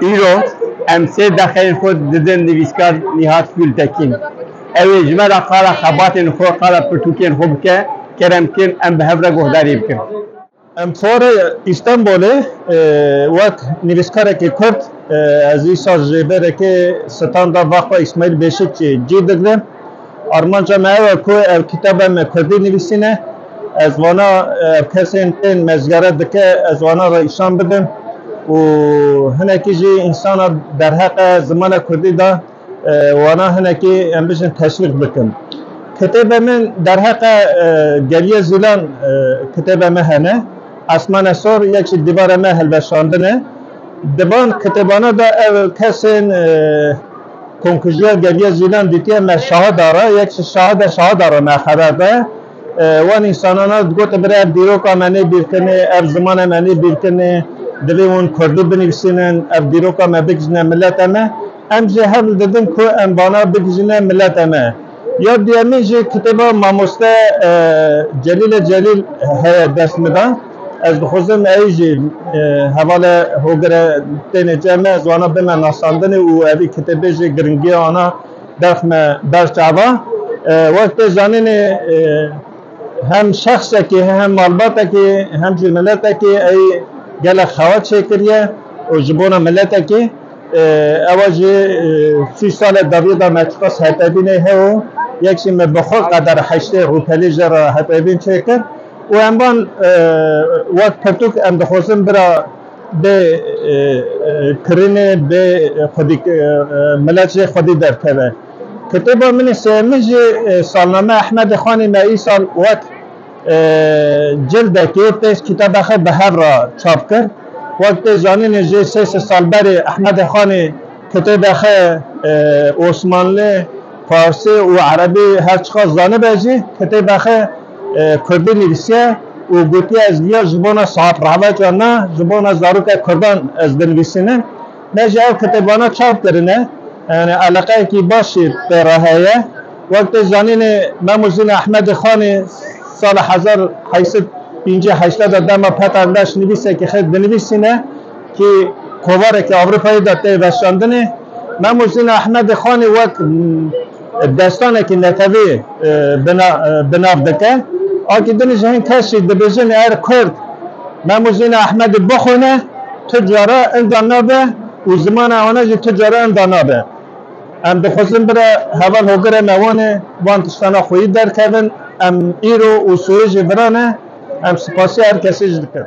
Îro em sê deqeyên xwe didin nivîskar Nîhat Gultekîn. Ew ê ji me re qala xebatên xwe, qala pirtûkên xwe bike, kerem bikin em bi hev re guhdarî bikin. Em xwarê Îstenbolê wek nivîskarekî Kurd ez îsal ji rêberekê standa va xwe Îsmaîl Bêşikçî cî digirim. Armanca me ew e ku ev kitabe me kurdî nivîsîn e. Ez vana kesên tên mezgere dike ez wanan re îşan bidim û hinekî jî însana derheqe zimana kurdî de wanan hinekî em bijin teşwîq bikim. Kitêbê min derheqe Geliyê Zîlan kitêbe me hene, Esmane Sor yek jî Dîvara me hilweşandine. Di van kitêbana de ew kesên. Konkujiya Geriya Zîlan dîtiye me şahida re, yek ji şahida şahida re me xeber de. Wan însanan a digotin birê ev dîroka me nêbîrkinê, ev zimana me nêbîrkinê, divê hûn kurdî binivîsînin, ev dîroka me bigihîjine mileta me. Em jê hewl didin ku em vana bigihîjine mileta me. Ya duyemîn jî kitêba mamoste Celîle Celîl heye dest min de. Ez dixwazim eyî jî hevale hogire têne cem me ziwana bime nasandinê û evî kitêbê jî giringiya wana derx me berç ava. Wek tê zanînê hem şexsekî hem malbatekî hem jî miletekî eyî gelek xewa çêkiriye û ji bona miletekî, Ewa jî sî sale daviye da me tiqas hetevînê heo, yek jî me bi xwe qeder heştê rûpelî jê re hetevîn çêkir û em van wek pirtûk em dixwazin bira bê kirînê bê xwedî milet jê xwedî derkeve. Kitêba min ê sêyemin jî Salname Ehmedê Xanî me îsal wek Cildekê pêş kitaba xwe bi hev re çap kir. Wek tê zanîn jê sê sed sal berê Ehmedê Xanê kitêbê xwe Osmanlî, Farsî û Erebî her çiqas zanibe jî kitêbê xwe Kurdî nivîsiye û gotiye ez viya ji bona saheb rahveca me, ji bona zaroka Kurdan ez dinivîsînim. Me ji ev kitêbana çap kirine, yanî eleqeyekî baş jî pê re heye. Wek tê zanînê Memûrzîn Ehmedê Xanî sala hezar heyş sed pêncî heşt de dema Peter Leş nivîsekî xêr dinivîsîne kî kovarekî Ewropayê de tê veşandinê. Memûrzîn Ehmedê Xanî wek Destanekî netewî bi nav dike. Akî din ji hin kes jî dibêjin er kurd Memûzîna Ehmedî bixwîne tu cara inda nabe û zimana wan jî tu cara inda nabe. Em dixwazin bira heval hogirê me wan ê wan tiştana xweyî derkevin. Em îro û soyê jî viran e. Em sipasîya her kesî jî dikin.